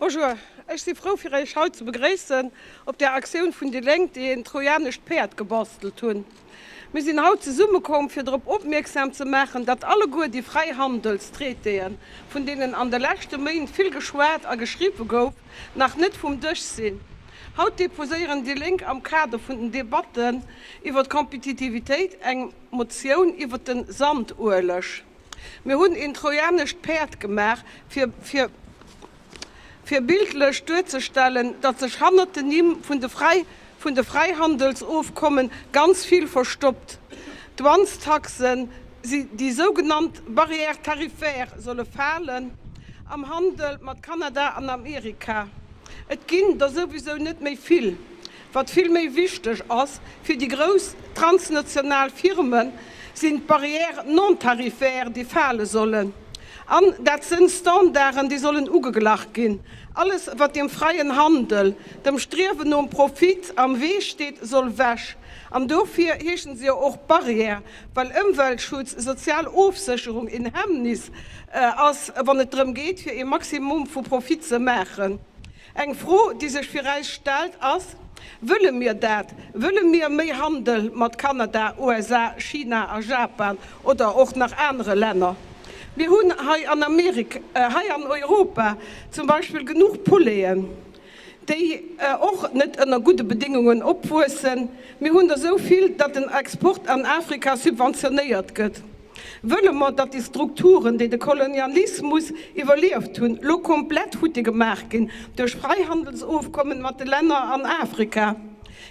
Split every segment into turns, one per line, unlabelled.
Bonjour, ech si frou fir Iech haut ze begréissen op der Aktioun vun déi Lénk, déi een trojanescht Päerd gebastelt hunn. Mir sinn haut zesumme komm fir drop opmierksam ze maachen, datt alleguer déi Fräihandelstraitéen, vun deenen an de leschte Méint vill geschwat a geschriwwe gouf, nach net vum Dësch sinn. Haut deposéieren déi Lénk am Kader vun den Debatten iwwer d'Kompetitivitéit eng Motioun iwwer de Sandueleg. Mir hunn een trojanescht Päerd gemaach, fir fir bildlech duerzestellen, datt sech hannert den Nimm vun de Fräi vun de Fräihandelsofkomme ganz vill verstoppt. D'Douanestaxen, déi sougenannt Barrières tarifaires, solle falen am Handel mat Kanada an Amerika. Et ginn der souwisou net méi vill. Wat vill méi wichteg ass fir déi grouss transnational Firmen, sinn d'Barrières non-tarifaires, déi fale sollen. An dat sënn Standarden, déi sollen ugeglach ginn. Alles wat dem freien Handel, dem Striewen nom Profit am Wee steet, soll ewech. An dofir heeschen se jo och Barrières, well Ëmweltschutz, sozial Ofsécherung een Hemmnis ass, wann et drëm geet fir ee Maximum vu Profit ze maachen. Eng Fro, déi sech fir eis stellt, ass, Wëlle mir dat? Wëlle mir méi Handel mat Kanada, USA, China a Japan oder och nach anere Länner? Mir hunn hei an Amerik, hei an Europa zum Beispill genuch Poulainen, déi och net ënner gudde Bedéngungen opwuessen. Mir hunn der esou vill, datt den Export an Afrika subventionéiert gëtt. Wëlle mer, datt déi Strukturen, déi de Kolonialismus iwwerlieft hunn, elo komplett futti gemaach ginn duerch Fräihandelsofkommen mat de Länner an Afrika?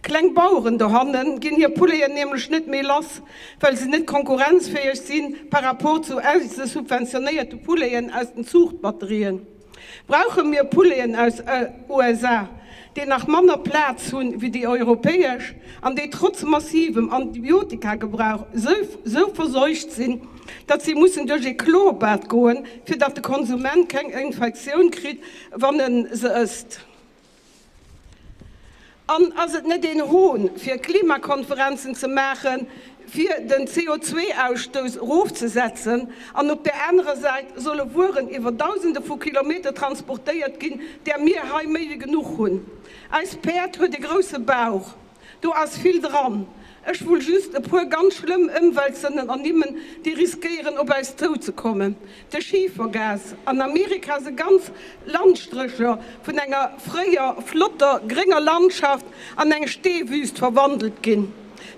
Kleng Baueren dohanne ginn hir Poulaien nämlech net méi lass, well se net konkurrenzfäeg si par rapport zu eise subventionéierte Poulaien aus den Zuuchtbatterien. Brauche mir Pouleten aus USA, déi nach manner Plaz hu wéi déi europäesch an déi trotz massivem Antibiotikagebrauch sou verseucht sinn, datt si mussen duerch ee Chlorbad goen, fir datt de Konsument keng Infektioun kritt, wann e se ësst? An ass et net een Hohn, fir Klimakonferenzen ze maachen, fir den CO2-Ausstouss erofzesetzen, an op där anerer Säit solle Wueren iwwer Dausende vu Kilometer transportéiert ginn, där mir hei méi wéi genuch hunn? Eist Päerd huet e grousse Bauch. Do ass vill dran. Ech wull just e puer ganz schlëmm Ëmweltsënnen ernimmen, déi riskéieren op äis zouzekommen, de Schifergas an Amerika, sou ganz Landstrécher vun enger fréier flotter grénger Landschaft an eng Steewüst verwandelt ginn,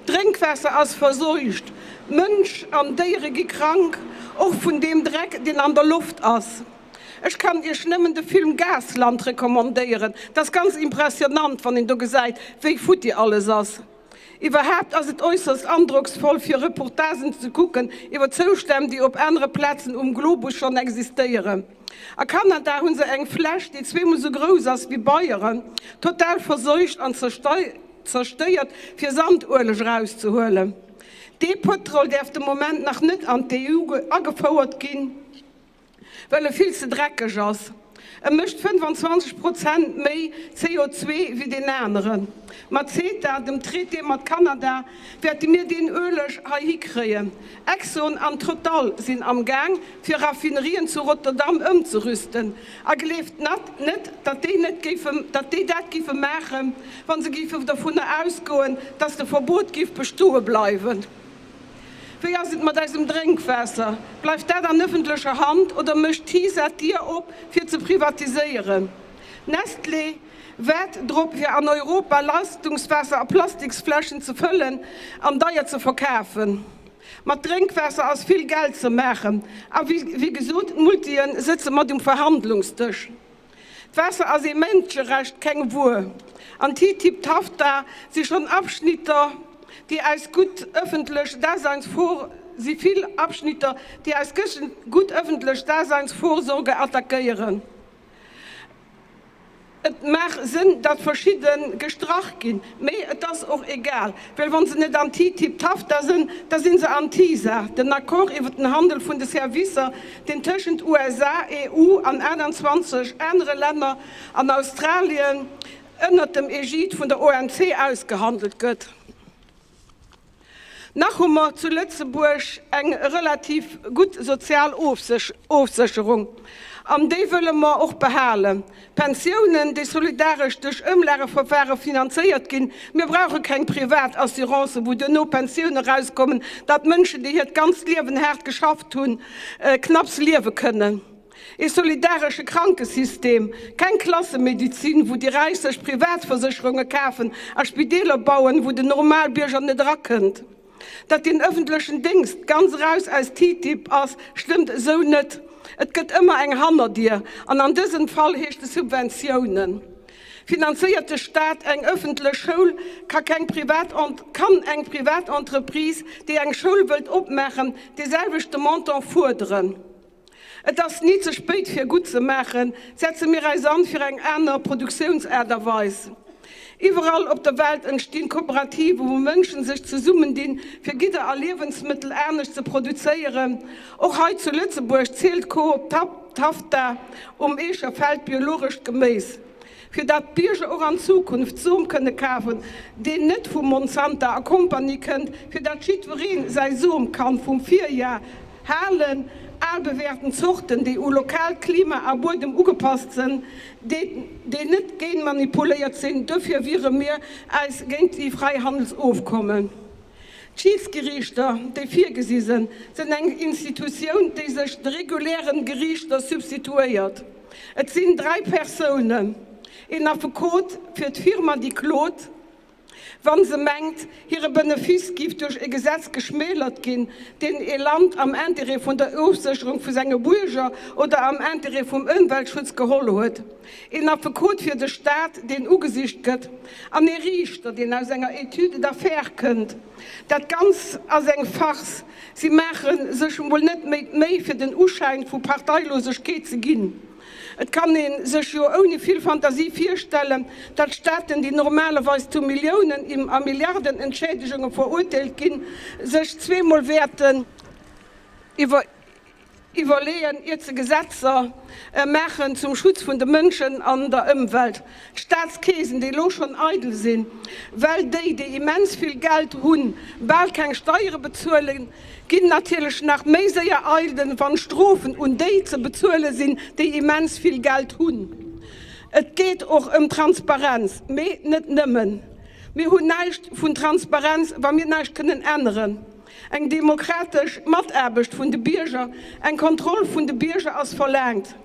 d'Drénkwaasser ass verseucht, Mënsch an Déiere gi krank, och vun deem Dreck, deen an der Loft ass. Ech kann iech nemmen de Film Gasland recommandéieren, dat ass ganz impressionnant wann een do gesäit wéi futti alles ass. Iwwerhaapt ass et äusserst androcksvoll fir Reportagen ze kucken iwwer Zoustänn déi op anere Plazen um Globus schonn existéieren. A Kanada hunn se eng Fläch déi zweemol sou grouss ass wéi Bayern, total verseucht an zerstéiert fir Sandueleg erauszehuelen. Dee Pëtrol däerf de Moment nach net an d'EU agefouert ginn. well e vill ze dreckeg ass. E mécht 25 Prozent méi CO2 wéi deen aneren. Mat CETA, dem Traité mat Kanada, wäerte mir deen Ueleg heihi kréien. Exxon an Total sinn am Gaang, fir Raffinerien zu Rotterdam ëmzerüsten. A gleeft net, datt déi net géife, datt déi dat géife maachen, wa se géife dervunner ausgoen, datt de Verbot géif bestoe bleiwen. Wéi ass et mat eisem Drénkwaasser? Bleift dat an ëffentlecher Hand oder mécht d'HISA d'Dier op fir ze privatiséieren? Nestlé wäert drop fir an Europa Leistungswaasser a Plastiksfläschen ze fëllen an deier ze verkafen. Mat Drénkwaasser ass vill Geld ze maachen a wéi gesot d'Multien sëtze mat um Verhandlungsdësch. D'Waasser ass ee Mënscherecht, keng Wuer. An TTIP, TAFTA si schonn Abschnitter, déi eis gutt ëffentlech Daseinsvor, si vill Abschnitter, déi eis gutt ëffentlech Daseinsvorsorge attackéieren. Et maach Sënn, datt verschidde gestrach ginn. Mee et ass och egal, well wa se net anti-TTIP-TAFTA sënn, da sinn se anti-TISA, den Accord iwwer den Handel vun de Servicer, deen tëschent USA, EU an 28 anere Länner an Australien ënnert dem Egide vun der OMC ausgehandelt gëtt. Nach hu mer zu Lëtzebuerg eng relativ gutt sozial Ofsécherung, an déi wëlle mer och behalen. Pensiounen, déi solidaresch duerch Ëmlageverfare finanzéiert ginn. Mir brauche keng privat Assurancen, wou duerno Pensioune erauskommen, datt Mënschen, déi hiert ganzt Liewen haart geschafft hunn, knapps liewe kënnen. Ee solidaresche Krankesystem, keng Klassemedizin, wou déi Räich sech Privatversécherunge kafen a Spideeler bauen, wou den Normalbierger net erakënnt. Datt den ëffentlechen Déngscht ganz eraus aus TTIP ass, stëmmt esou net. Et gëtt ëmmer eng Hannerdier, an an dësem Fall heescht e Subventiounen. Finanzéiert de Staat eng ëffentlech Schoul, ka keng privat kann eng privat Entreprise, déi eng Schoul wëllt opmaachen, dee selwechte Montant fuerderen. Et ass ni ze spéit fir gutt ze maachen. Setze mir eis an fir eng aner Produktiounsaart a Weis. Iwwerall op der Welt entstinn Kooperativen, wou Mënschen sech zesummendinn, fir Gidder a Liewensmëttel anescht ze produzéieren. Och hei zu Lëtzebuerg zielt d'Coop Tafta um Eecher Feld biologescht Geméis. fir dat d'Bierger och an Zukunft Som kënne kafen, deen net vu Monsanta a Kompanie kënnt, fir dat jiddwereen säi Som kann vum Virjahr halen, al bewäerten Zorten, déi u lokaalt Klima a Buedem ugepasst sënn, déi net génmanipuléiert sinn. Duerfir wiere mir äis géint déi Freihandelsofkommen. D'Schiedsgerichter, déi virgesi sënn, sënn eng Institutioun, déi sech de regulären Gerichter substituéiert. Et sinn dräi Persounen, een Affekot fir d'Firma, déi klot, wa se mengt, hire Benefice géif duerch e Gesetz geschmälert ginn, deen e Land am Intérêt vun der Ofsécherung vu senge Buerger oder am Intérêt vum Ëmweltschutz geholl huet, een Affekot fir de Stat, deen ugesicht gëtt, an ee Riichter, deen aus enger Étude d'affaires kënnt. Dat Ganzt ass eng Farce. Si maache sech emol net méi d'Méi fir den Uschäin vu Parteilosegkeet ze ginn. Et kann ee sech jo ouni vill Fantasie virstellen, datt Staaten, déi normalerweis zu Milliounen a Milliarden Entschädegunge verurteelt ginn, sech zweemol wäerten iwwer Iwwerleeën, iert se Gesetzer maachen zum Schutz vun de Mënschen an der Ëmwelt. D'Staatskeesen, déi elo schonn eidel sinn, well déi, déi immens vill Geld hunn, bal keng Steiere bezuelen, ginn natierlech nach méi séier eidel, wann Strofen un déi ze bezuele sinn, déi immens vill Geld hunn. Et geet och ëm Transparenz, mee net nëmmen. Mir hunn näischt vun Transparenz, wa mir näischt kënnen änneren. Eng demokratesch Mataarbecht vun de Bierger, eng Kontroll vun de Bierger ass verlaangt.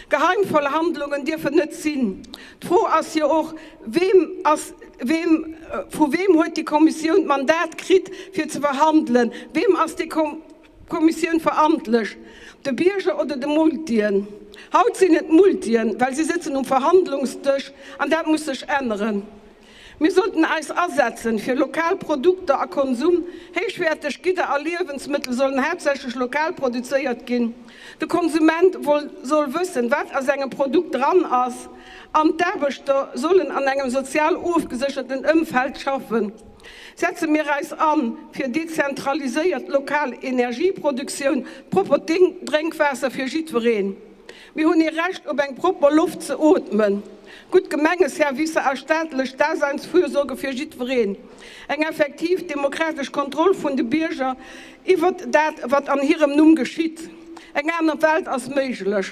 Geheimverhandlungen dierf et net sinn. D'Fro ass jo och, weem ass, weem, vu weem huet déi Kommissioun d'Mandat kritt fir ze verhandelen? Weem ass déi Kommissioun verantlech, de Bierger oder de Multien? Haut sinn et d'Multien, well si sëtzen um Verhandlungsdësch, an dat muss sech änneren. Mir sollten eis asetzen fir lokal Produkter a Konsum. Héichwäerteg Gidder a Liewensmëttel sollen haaptsächlech lokal produzéiert ginn. De Konsument soll wëssen, wat a sengem Produkt dran ass an d'Aarbechter sollen an engem sozial ofgesécherten Ëmfeld schaffen. Setze mir eis an fir dezentraliséiert lokal Energieproduktioun, propert Drénkwaasser fir jiddwereen. Mir hunn ee Recht op eng propper Loft ze ootmen, gutt Gemengeservicer a staatlech Daseinsfürsorge fir jiddwereen, eng effektiv demokratesch Kontroll vun de Bierger iwwert dat, wat an hirem Numm geschitt. Eng aner Welt ass méiglech.